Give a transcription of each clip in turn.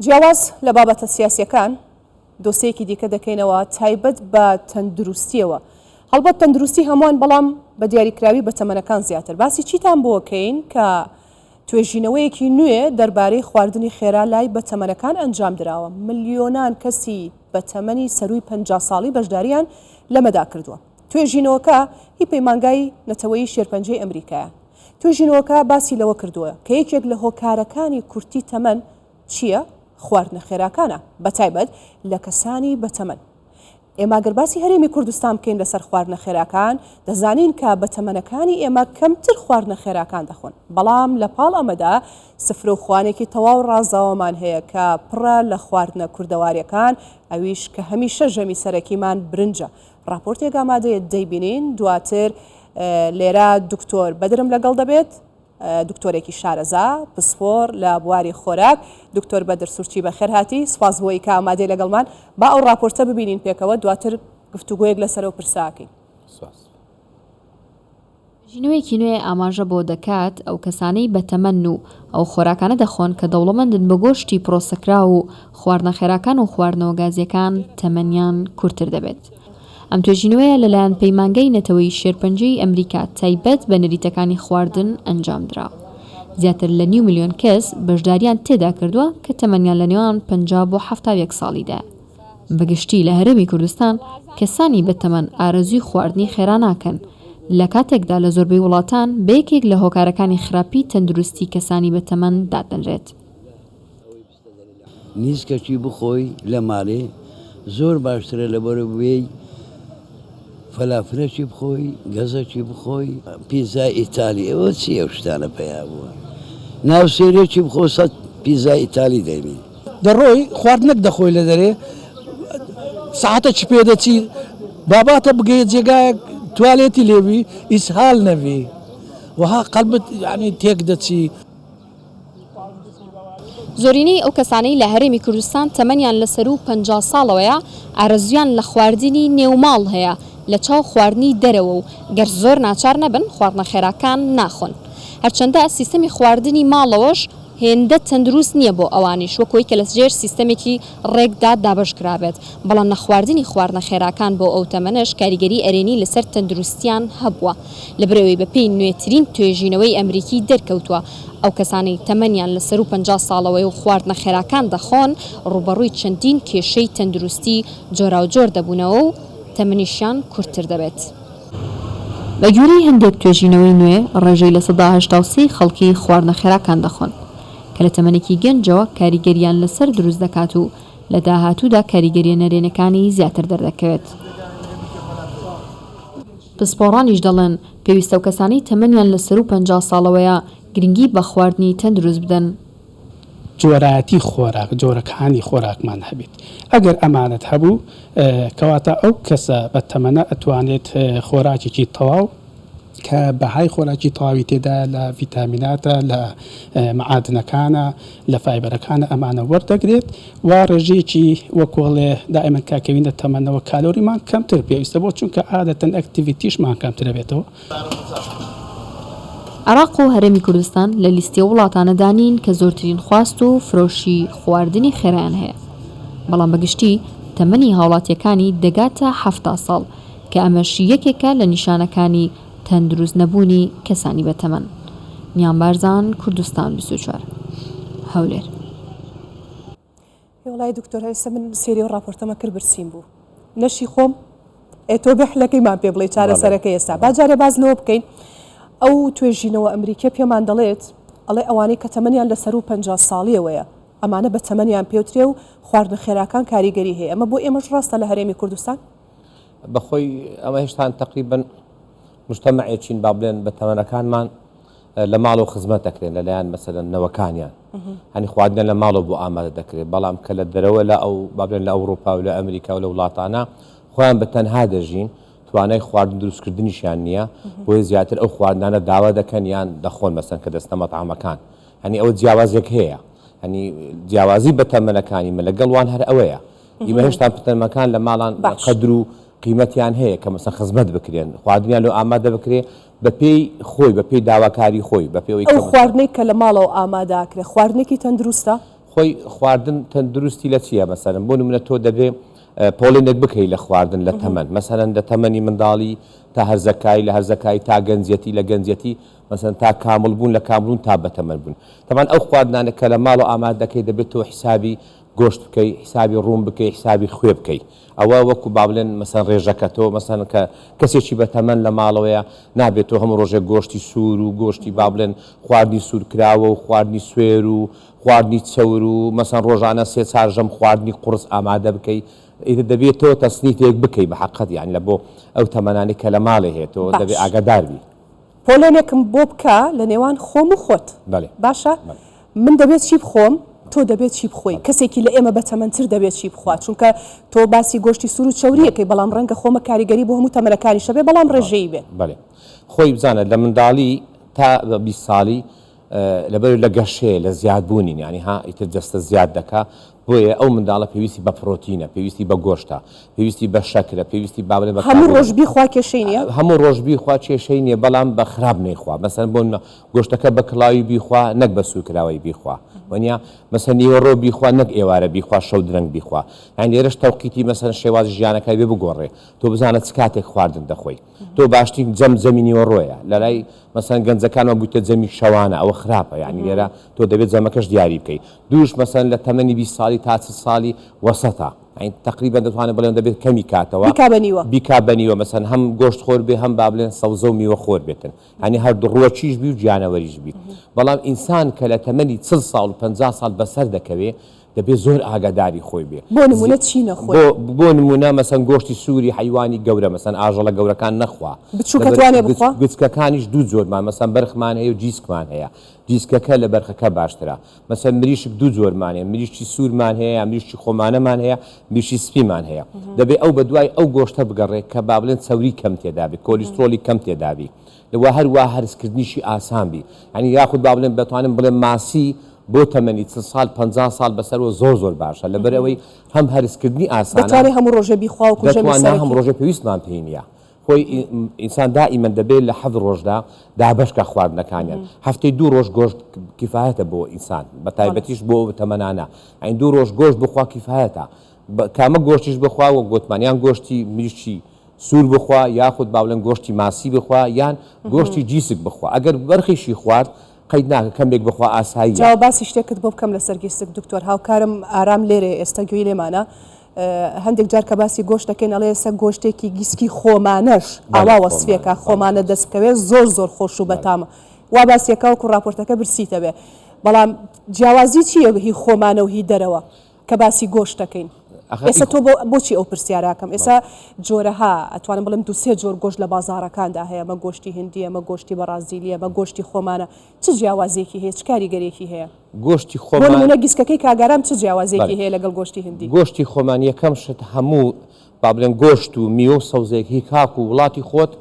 جیاواز لە بابەتە سیاسیەکان، دۆسێیەکی دیکە دەکەینەوە تایبەت بە تەندروستیەوە، هەڵبەت تەندروستی هەمووان بەڵام بە دیاریکراوی بە تەمەنەکان زیاتر، باسی چیتان بۆکەین کە توێژینەوەیەکی نوێ دەربارەی خواردنی خێرا لای بە تەمەنەکان ئەنجام دراوە، ملیۆنان کەسی بە تەمەنی سەرووی پەنجا ساڵی بەشداریان لەمەدا کردووە. توێژینەوەکە هی پەیمانگای نەتەوەیی شێرپەنجەی ئەمریکایە. توێژینەوەکە باسی لەوە کردووە کە یەکێک لە هۆکارەکانی کورتی تەمەن چییە؟ خواردنە خێراکانە، بەتایبەت لە کەسانی بەتەمەن. ئێمە ئەگەر باسی هەرێمی کوردستان بکەین لەسەر خواردنە خێراکان، دەزانین کە بەتەمەنەکانی ئێمە کەمتر خواردنە خێراکان دەخۆن، بەڵام لەپاڵ ئەمەدا سفرە و خوانێکی تەواو ڕازاوەمان هەیە کە پڕە لە خواردنە کوردەوارییەکان، ئەویش کە هەمیشە ژەمی سەرەکیمان برنجە، ڕاپۆرتێک ئامادەیە دەیبینین دواتر لێرە دکتۆر بەدرم لەگەڵ دەبێت دکتۆرێکی شارەزا پسپۆر لە بواری خۆراک دکتۆر بەدر سوورچی بەخێر هاتی سپاس بۆی کە ئامادەی لەگەڵمان با ئەو ڕاپۆرتە ببینین پێکەوە دواتر گفتوگوۆیەک لەسەرەوە پرساکەین. ژینوەیەکی نوێ ئاماژە بۆ دەکات ئەو کەسانەی بەتەمەن و ئەو خۆراکانە دەخۆن کە دەوڵەمەندن بە گۆشتی پرۆسەکراو و خواردنە خێراکان و خواردنەوە گازییەکان تەمەنیان کورتتر دەبێت. ئەم توێژینەوەیە لەلایەن پەیمانگای نەتەوەیی شێرپەنجەی ئەمریکا تایبەت بە نەریتەکانی خواردن ئەنجامدرا. زیاتر لە نیو ملیۆن کەس بەشدارییان تێدا کردووە کە تەمەنیان لەنێوان پەنجا بۆ حەفتا و یەک ساڵیدایە. بە گشتی لە هەرێمی کوردستان کەسانی بەتەمەن ئارەزووی خواردنی خێرا ناکەن، لە کاتێکدا لە زۆربەی وڵاتان بە یەکێک لە هۆکارەکانی خراپی تەندروستی کەسانی بەتەمەن دادەنرێت. نیسکەچی بخۆی لە ماڵێ زۆر باشترە لەبەرەو بێی فەلافلێکی بخۆی گەزەکی بخۆی پیزای ئیتالی ئەوە چی ئەو شتانە پەیا بووە ناوسێرێکی بخۆ سەد پیزای ئیتالی دەینی. دەڕۆی خوارد نەک دەخۆی لە دەرێ سەعاتە چ پێ دەچی باباتە بگەیە جێگایەک توالێتی لێبی ئیسهال نەبی وەها قەلبت یانی تێک دەچی. زۆرینەی ئەو کەسانەی لە هەرێمی کوردستان تەمەنیان لە سەروو پەنجا ساڵەوەیە، ئارەزوویان لە خواردنی نێو ماڵ هەیە لە چاو خواردنی دەرەوە و گەر زۆر ناچار نەبن خواردنە خێراکان ناخۆن. هەرچەندە سیستەمی خواردنی ماڵەوەش هێندە تەندروست نییە بۆ ئەوانیش وەک وەی کە لە ژێر سیستەمێکی ڕێکدا دابەش کرابێت، بەڵام نەخواردنی خواردنە خێراکان بۆ ئەو تەمەنەش کاریگەری ئەرێنی لەسەر تەندروستیان هەبووە. لەبەرئەوەی بەپێی نوێترین توێژینەوەی ئەمریکی دەرکەوتووە ئەو کەسانەی تەمەنیان لە سەروو پەنجا ساڵەوەیە و خواردنە خێراکان دەخۆن ڕووبەڕووی چەندین کێشەی تەندروستی جۆراوجۆر دەبوونەوە و تەمەنیشیان کورتتر دەبێت. بەگوێرەی هەندێک توێژینەوەی نوێ ڕێژەی لە سەدا هەشتا و سێ ی خەڵکی خواردنە خێراکان دەخۆن کە لە تەمەنێکی گەنجەوە کاریگەرییان لەسەر دروست دەکات و لە داهاتوودا کاریگەرییە نەرێنەکانی زیاتر دەردەکەوێت. پسپۆڕانیش دەڵێن، پێویستەو کەسانی تەمەنیان لە سەروو پەنجا ساڵەوەیە گرنگی بە خواردنی تەندروست بدەن. جۆرایەتی خۆراک، جۆرەکانی خۆراکمان هەبێت، ئەگەر ئەمانەت هەبوو کەواتە ئەو کەسە بە تەمەنە ئەتوانێت خۆراکێکی تەواو کە بەهای خۆراکی تەواوی تێدایە لە ڤیتامیناتە لە مەعادنەکانە، لە فایبەرەکانە ئەمانە وەردەگرێت و ڕێژەیەکی وەکو ئەڵێ دائیمەن کە کەوینە تەمەنەوە کالۆریمان کەمتر پێویستە بۆ چونکە ئادەتەن ئەکتیڤیتیشمان کەمتر ئەبێتەوە. عێراق و هەرێمی کوردستان لە لیستی ئەو وڵاتانەدا نین کە زۆرترین خواست و فرۆشی خواردنی خێرایان هەیە، بەڵام بە گشتی تەمەنی هاوڵاتییەکانی دەگاتە حەفتا ساڵ، کە ئەمەش یەکێکە لە نیشانەکانی تەندروست نەبوونی کەسانی بەتەمەن. نیام بارزان کوردستان بیست و چوار هەولێر. ئێ وەڵای دکتۆر ئێستا من سێری ئەو ڕاپۆرتەمە کرد برسیم بوو نەشی خۆم ئێ تۆ بێ حلەکەی مان پێ بڵێ چارەسەرەکەی ئێستا با جارێ باس لەوە بکەین ئەو توێژینەوە ئەمریکیە پێمان دەڵێت ئەڵێ ئەوانەی کە تەمەنیان لە سەروو پەنجا ساڵیەوەیە ئەمانە بە تەمەنیان پێوترێ و خواردنە خێراکان کاریگەری هەیە ئەمە بۆ ئێمەش ڕاستە لە هەرێمی کوردستان؟ بەخۆی ئەمە هێشتان تەقریبەن مشتەمەعێکین با بڵێن بە تەمەنەکانمان لە ماڵ و خزمەت دەکرێن لەلایەن مەسەدەن نەوەکانیان هەنی خواردن لە ماڵەوە بۆ ئامادە دەکرێت بەڵام کە لە دەرەوە لە ئەو بابلێن لە ئەوروپا و لە ئەمریکا و لە وڵاتانە خۆیان بە تەنها دەژین توانای خواردن دروستکردنیشیان نییە بۆیە زیاتر ئەو خواردنانە داوا دەکەن یان دەخۆن مەسەن کە دەستە مەتعامەکان هەنی ئەوە جیاوازێک هەیە هەنی جیاوازی بە تەمەنەکانی مە لەگەڵوان هەر ئەوەیە ئیمە هێشتا پتەرمەکان لە ماڵان قەدر و قیمەتیان هەیە کە مەسە خزمەت بکرێن خواردنیان لۆ ئامادە بکرێ بە پێی خۆی بە پێی داواکاری خۆی بە پێ ئەو خواردنێک کە لە ماڵەوە ئاماداکرێ خواردنێکی تەندروستە خۆی خواردن تەندروستی لە چییە مەسەرم بۆ منە تۆ دەبێ پۆڵێنێک بکەیت لە خواردن لە تەمەەن مەسەرەن لە تەمەنی منداڵی تا هەرزەکای لە هەرزەکای تا گەنجەتی لە گەنجەتی مەسەن تا کامل بوون لە کاملون تا بەتەمەەن بوون تەمان ئەو خواردنانە کە لە ماڵ و ئاماد دەکەی دەبێت تۆ حسابی گۆشت بکەی حیسابی ڕووم بکەی حیسابی خوێ بکەی ئەوە وەکو با بڵێن مەسەن ڕێژەکە تۆ مەسەن کە کەسێکی بە تەمەن لە ماڵەوەیە نابێت تۆ هەموو ڕۆژێک گۆشتی سوور و گۆشتی با بڵێن خواردنی سوور کراوە و خواردنی سوێر و خواردنی چەور و مەسەن ڕۆژانە سێ چار ژەم خواردنی قوڕس ئامادە بکەی ئیتر دەبێت تۆ تەسنیفێک بکەی بە حەقەت یان لە بۆ ئەو تەمەنانی کە لە ماڵێ هەیە تۆ دەبێ ئاگادار بی. پۆلێنێکم بۆ بکە لە نێوان خۆم و خۆت. بەلێ. باشە بەلێ. من دەبێ چی بخۆم تۆ دەبێ چی بخۆی بەلێ. کەسێکی لە ئێمە بە تەمەن تر دەبێ چی بخوات بەلێ. چونکە تۆ باسی گۆشتی سور و چەوری بەلێ. ئەکەی بەڵام رەنگە خۆمە کاریگەری بۆ هەموو تەمەنەکانیش هەبێ بەڵام رێژەیی بەلێ بێ. بەلێ خۆی بزانە لە منداڵی تا بیست ساڵی لەبەر لە گەشەیە لە زیاد بوونی یانی ها ئیتر جەستە زیاد دەکا بۆیە ئەو منداڵە پێویستی بە پرۆتینە پێویستی بە گۆشتە پێویستی بە شەکرە پێویستی با بڵێ بە هەموو کاربۆ ڕۆژ بیخوا کێشەی نییە؟ هەموو ڕۆژ بیخوا کێشەی نییە بەڵام بە خراپ نەیخوا مەسەن بۆ نمە گۆشتەکە بە کڵاوی بیخوا نەک بە سوورکراوەی بیخوا وەنیا مەسەن نیوەڕۆ بیخوا نەک ئێوارە بیخوا شەو درەنگ بیخوا یان لێرەش تەوقیتی مەسەن شێواز ژیانەکەی بێ بگۆڕێ تۆ بزانە چ کاتێک خواردن دەخۆی تۆ باشترین جەم جەمی نیوەڕۆیە لەلای مەسەن گەنجەکانەوە بوویتە جەمی شەوانە ئەوە خراپە یعنی لێرە تۆ دەبێت جەمەکەش دیاری بکەیت دووش مەسەن لە تەمەنی بی ساڵی تا چ ساڵی وەسەتا ئەین تقریبا دەتوانێت بڵێن دەبێت کەمی کاتەوە بیکا بە نیوە بیکا بە نیوە مەسەن هەم گۆشت خۆر بێ هەم با بڵێن سەوزە و میوە خۆر بێتن هەنی هەر دڕوە چیش بی و گیانەوەریش بی بەڵام ئینسان کە لە تەمەنی چل ساڵ و پ ساڵ بەسەر دەکەوێ دەبێ زۆر ئاگاداری خۆی بێ. بۆ نموونە چی نەخۆی؟ بۆ نموونە مەسەن گۆشتی سووری حەیوانی گەورە مەسەن ئاژەڵە گەورەکان نەخوا. بچووکە توانێ بخوا؟ گچکەکانیش دوو جۆرمان مەسەن بەرخمان هەیە و جیسکمان هەیە. جیسکەکە لە بەرخەکە باشترە. مەسەن مریشک دوو جۆرمان هەیە مریشکی سوورمان هەیە یان مریشکی خۆمانەمان هەیە مریشکی سپیمان هەیە. دەبێ ئەو بە دوای ئەو گۆشتە بگەڕێ کە با بڵێن چەوری کەم تێدا بێ کۆلیسترۆڵی کەم تێدا بی. و هەروا هەرسکردنیشی ئاسان بی یانی یاخود با بڵێم دەتوانم بڵێم ماسی بۆ تەمەنی چل سال پەنجا سال بەسەرەوە زۆر زۆر باشە لەبەر ئەوەی هەم هەرسکردنی ئاسانە دەتوانێ هەموو ڕۆژێ بیخوا وەکو ژەمی دەتوانێ سەرەکی. هەموو ڕۆژێ پێویستمان پێی نییە خۆی ئی ئینسان دائیمەن دەبێ لە حەفت ڕۆژدا دابەش کا خواردنەکانیان هەفتەی دوو ڕۆژ گۆشت کیفایەتە بۆ ئینسان بە خەڵەس. تایبەتیش بۆ تەمەنانە یانی دوو ڕۆژ گۆشت بخوا کیفایەتە بە کامە گۆشتیش بخوا وەک گۆتمان یان گۆشتی مریشکی سوور بخوا یاخود باولێن گۆشتی ماسی بخوا یان گۆشتی جیسک بخوا ئەگەر بەرخیشی خوارد قەید ناکە کەمێک بخوا ئاساییە. جاوە باسی شتێکت بۆ بکەم لەسەر گیسک دکتۆر هاوکارم ئارام لێرەیە ئێستا گوێی لێمانە هەندێک جار کە باسی گۆشت دەکەین ئەڵێ ئێستا گۆشتێکی گیسکی خۆمانەش ئاوا وەسفێکە خۆمانە دەست بکەوێت زۆر زۆر خۆش و بەتامە وا باسیەکەوەکو راپۆرتەکە برسیتەوێ بەڵام جیاوازی چیە هی خۆمانە و هی دەرەوە کە باسی گۆشت دەکەین ئێستا تۆ بۆچی ئەو پرسیارە ئەکەم ئێستا جۆرەها ئەتوانم بڵێم دوو سێ جۆر گۆشت لە بازاڕەکاندا هەیە ئەمە گۆشتی هندی ئەمە گۆشتی بەڕازیلی ئەمە گۆشتی خۆمانە چ جیاوازیەکی هەیە چ کاریگەریەکی هەیە گۆشتی بۆ خۆمان نموونە گیسکەکەی کاگارام چ جیاوازیەکی بەڵێ هەیە لەگەڵ گۆشتی هندی گۆشتی خۆمان یەکەم شت هەموو با بڵێن گۆشت و میوە و سەوزەیەک هی خاک و وڵاتی خۆت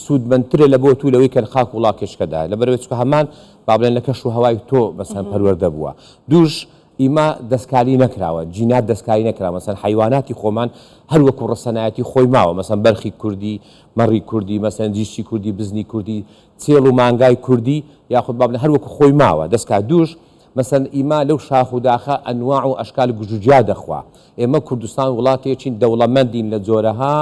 سوودمەندترە لە بۆ تو لەوەی کە لە خاک و وڵاتێکشکەدایە لەبەرئەوەی چونکە هەمان با بڵێن لە کەش و هەوای تۆ مەسەن پەروەردە بووە دووش ئیمە دەستکاری نەکراوە جینات دەستکاری نەکراوە مەسەن حەیواناتی خۆمان هەر وەکو ڕەسەنایەتی خۆی ماوە مەسەن بەرخی کوردی مەڕی کوردی مەسەن جیشی کوردی بزنی کوردی چێڵ و مانگای کوردی یاخود بابنە هەر وەکو خۆی ماوە دەستکا دووش مەسەن ئیمە لەو شاخ و داخە ئەنواع و ئەشکال گژوجیا دەخوا ئێمە کوردستان وڵاتێکین دەوڵەمەندین لە جۆرەها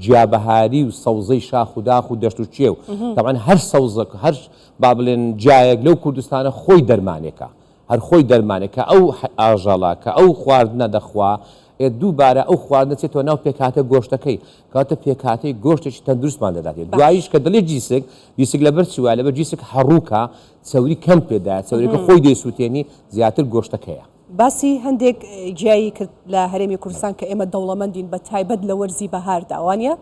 جیابەهاری و سەوزەی شاخ و داخ و دەشت و چێ و تەوان هەر سەوزەک هەر با بڵێن جایەک لەو کوردستانە خۆی دەرمانێکە هەر خۆی دەرمانە کە ئەو ئاژەڵە کە ئەو خواردنە دەخوا ێت دووبارە ئەو خواردنە چێتەوە ناو پێکهاتە گۆشتەکەی کەواتە پێکهاتەی گۆشتێکی تەندروستمان دەداتێت باش دوایش کە دڵێ جیسک جیسک لەبەر چی وایە لەبەر جیسک هەڕووکە چەوری کەم پێدایە چەوریەکە خۆی دەیسووتێنی زیاتر گۆشتەکەیە. باسی هەندێک گیایی کرد لە هەرێمی کوردستان کە ئێمە دەوڵەمەندین بە تایبەت لە وەرزی بەهاردا وانە؟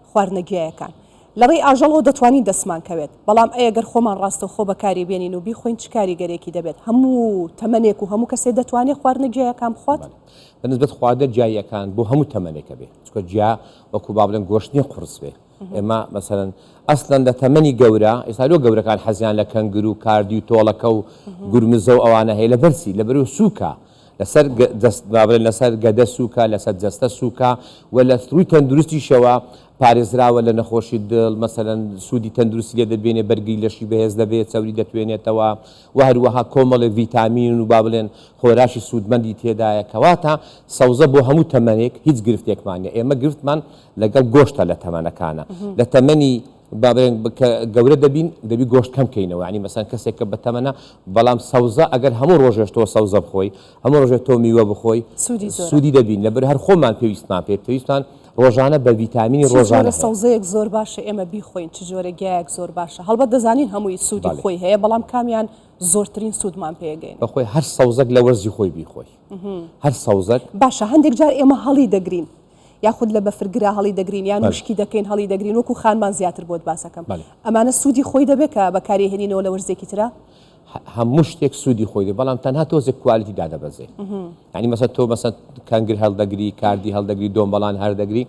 خواردنە گیایەکان. لە ڕێی ئاژەڵەوە دەتوانین دەستمان کەوێت، بەڵام ئەی ئەگەر خۆمان ڕاستەوخۆ بەکاری بێنین و بیخۆین چ کاریگەریەکی دەبێت؟ هەموو تەمەنێک و هەموو کەسێ دەتوانێت خواردنە گیایەکان بخوات؟ بە نسبەت خواردنە گیاییەکان بۆ هەموو تەمەنێک ئەبێ چونکە گیا وەکو با بڵێن گۆشت نیە قوڕس بێ ئێمە مەسەلەن ئەسلەن لە تەمەنی گەورە ئێستا لۆ گەورەکان حەزیان لە کەنگر و کاردی و تۆڵەکە و گورمزە و ئەوانە هەیە لە بەرچی لە بەرو سووکە لەسەر جەست با بڵێن لەسەر گەدە سووکە، لەسەر جەستە سووکە و لە ڕووی تەندروستیشەوە پارێزراوە لە نەخۆشی دڵ، مەسەلەن سوودی تەندروستی لێ دەبینێ، بەرگری لەشی بەهێز دەبێ، چەوری دەتوێنێتەوە و هەروەها کۆمەڵێک ڤیتامین و با بڵێن خۆراشی سوودمەندی تێدایە، کەواتە سەوزە بۆ هەموو تەمەنێک هیچ گرفتێکمان نییە، ئێمە گرفتمان لەگەڵ گۆشتە لە تەمەنەکانا، لە تەمەنی. با بڵێن کە گەورە دەبین دەبی گۆشت کەم کەینەوە ینی مەسەن کەسێک کە بەتەمەە بەڵام سەوزە ئەگەر هەموو ڕۆژێش تۆ سەوزە بخۆی هەموو ڕۆژێت تۆ میوە بخۆی سوودی دەبین لەبەر هەر خۆمان پێویستمان پێ پێویستان ڕۆژانە بە ڤیتامینی ڕۆژانە سەوزەیەک زۆر باشە ئێمە بیخۆین چ جۆرە گیایەک زۆر باشە هەڵبەت دەزانین هەمووی سوودی خۆی هەیە بەڵام کامیان زۆرترین سوودمان پێگەین بەخۆی هەر سەوزەک لە وەرزی خۆی بیخۆی هەر سەوزەک باشە هەندێک جار ئێمە هەڵی دەگرین یاخود لە بەفر گرا هەڵی دەگرین یان وشکی دەکەین هەڵی دەگرین وەکو خانمان زیاتر بۆت باسەکەم ئەمانە سوودی خۆی دەبێت کە بەکاری هێنینەوە لە وەرزێکی تررا هەموو شتێک سوودی خۆی دێ بەڵام تەنها تۆزێک کوالیتی دادەبەزێ ینی مەسە تۆ مەسە کەنگر هەڵدەگری کاردی هەڵدەگری دۆمبەڵان هەردەگری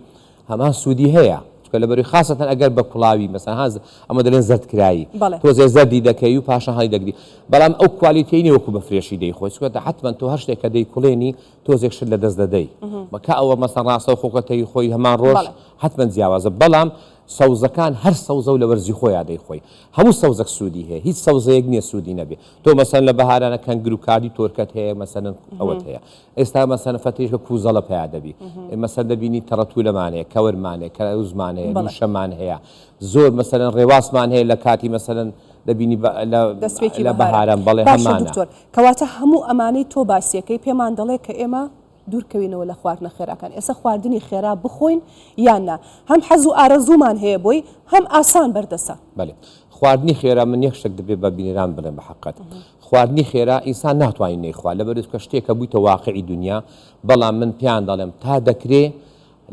هەمان سوودی هەیە چکە لە بەری خاستەن ئەگەر بە کوڵاوی مەسەهاز ئەمە دەلێن زەردکرایی تۆزێ زەردی دەکەی و پاشە هەڵی دەگری بەڵام ئەو کوالیتینی وەکو بە فرێشی دەیخۆی سوەتە حتمما تۆ هەر شتێکە دەیکڵێنی تۆزێک شت لە دەست دەدەی بە کا ئەوە مەسە ڕاستەو خۆکە تەوی خۆی هەمان ڕۆژ حتممە جیاوازە بەڵام سەوزەکان هەر سەوزە و لە وەرزی خۆیان دەی خۆی هەموو سەوزەک سوودی هەیە هیچ سەوزەیەک نییە سوودی نەبێ تۆ مەسەن لە بەهارانە کەنگر و کادی تۆرکەت هەیە مەسەن ئەوەت هەیە ئێستا مەسەن فەتیشکە کوزەڵە پیا دەبی مەسەر دەبینی تەڕەتو لەمانەیە کەورمانەیە کە زمانەیە شەمان هەیە زۆر مەسەرەن ڕێواسمان هەیە لە کاتی مەسەرەن دەبینی لە بەهاران بەڵێ هەمانە. کەواتە هەموو ئەمانەی تۆ باسیەکەی پێمان دەڵێ کە ئێمە دوورکەوینەوە لە خواردنە خێراکان ئێسە خواردنی خێرا بخۆین یان نا هەم حەز و ئارەزوومان هەیە بۆی هەم ئاسان بەردەسە. بەلێ خواردنی خێرا من یەک شتەک دەبێ بە بینران بلێم بە حەقەت خواردنی خێرا ئینسان ناتوانین نەیخوا لەبەرئەوەی کە شتێکە بوویتە واقعی دونیا بەڵام من پێیان دەڵێم تا دەکرێ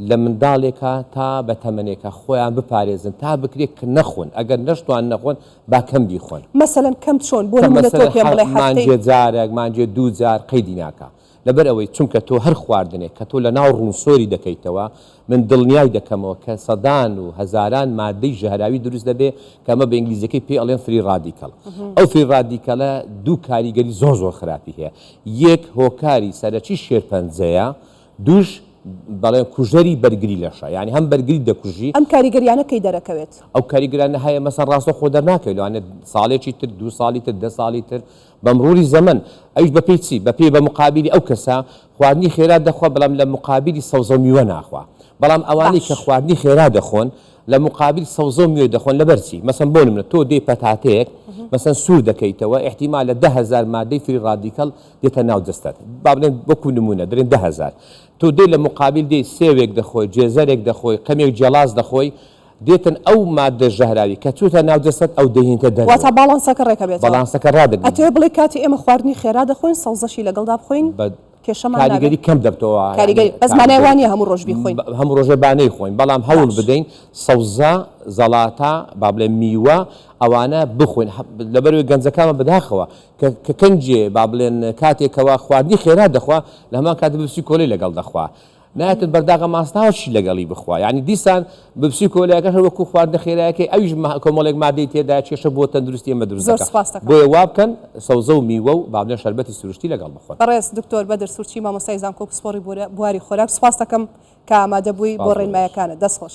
لە منداڵێکا تا بە تەمەنێکا خۆیان بپارێزن تا بکرێ کە نەخۆن ئەگەر نەشتوان نەخۆن با کەم بیخۆن. مەسەلەن کەم چۆن؟ بۆ نموونە تۆ پێم بڵێ هەفتەی. مانگێ جارەک مانگێ دوو جار قەیدی ناکا لەبەر ئەوەی چونکە تۆ هەر خواردنێک کە تۆ لە ناو ڕوون سۆری دەکەیتەوە من دڵنیای دەکەمەوە کە سەدان و هەزاران مادەی ژەهراوی دروست دەبێ کە ئەمە بە ئینگلیزیەکەی پێی ئەڵێن فری ڕادیکەڵ ئەو فری ڕادیکەڵە دوو کاریگەری زۆر زۆر خراپی هەیە یەک هۆکاری سەرەکی شێرپەنجەیە دووش دەڵێن کوژەری بەرگری لەشە یانی هەم بەرگریت دەکوژی. ئەم کاریگەریانە کەی دەرەکەوێت؟ ئەو کاریگەرانە هەیە مەسەن ڕاستەوخۆ دەرناکەوێت لەوانەیە ساڵێکی تر دوو ساڵی تر دە ساڵی تر بە مروری زەمەن ئەویش بەپێی چی بەپێی بە مقابلی ئەو کەسە خواردنی خێرا دەخوا بەڵام لە مقابلی سەوزەو میوە ناخوا بەڵام ئەوانەی کە باش خواردنی خێرا دەخۆن لە مقابل سەوزەو میوەی دەخۆن لەبەر چی مەسەن بۆ نمونە تۆ دێی پەتاتەیەک مەسەن سوور دەکەیتەوە ئیحتیمالە دە هەزار مادەی فری ڕادیکەڵ دێتە ناو جەستەت با بڵێن وەکو نمونە دەرێن دە هەزار تۆ دێ لە مقابل دێی سێوێک دەخۆی جێزەرێک دەخۆی قەمێک جیاڵاز دەخۆی دێتن ئەو مادە ژەهراوی کە چوتە ناو جەستەت ئەو دەینتە دەر واتا باڵانسەکە ڕێکە بێت باڵانسەکە ڕادەگری ئەتەوێ بڵێ کاتی ئێمە خواردنی خێرا دەخۆین سەوزەشی لەگەڵدا بخۆین بە کاریگەری کەم دەبتەوە کاریگەری بەس مانای وانە هەموو ڕۆژ بیخۆین هەموو ڕۆژێ بانەی خۆین بەڵام هەوڵ بدەین سەوزە زەڵاتە با بڵێ میوە ئەوانە بخۆین لەبەروی گەنجەکانمە بەداخەوە کە کە کەنجێ با بڵێن کاتێ کەوا خواردنی خێرا دەخوا لە هەمان کاتە ببسی کۆلەی لەگەڵ دەخوا نایەتت بەرداغە ماستاوە چی لەگەڵی بخوا یعنی دیسان ببسی کۆلایەکە هەر وەکو خواردنە خێرایەکەی ئەویش کۆمەڵێک مادەی تێدا کێشە بۆ تەندروستی ئێمە دروست دەکات بۆیە وا بکەن سەوزە و میوە و با بڵێن شەربەتی سروشتی لەگەڵ بخۆن بەڕێز دکتۆر بەدر سورچی مامۆستای زانکۆ و پسپۆڕی بواری خۆراک سوپاستەکەم کە ئامادە بووی بۆ ڕێنمایەکانت دەستخۆش.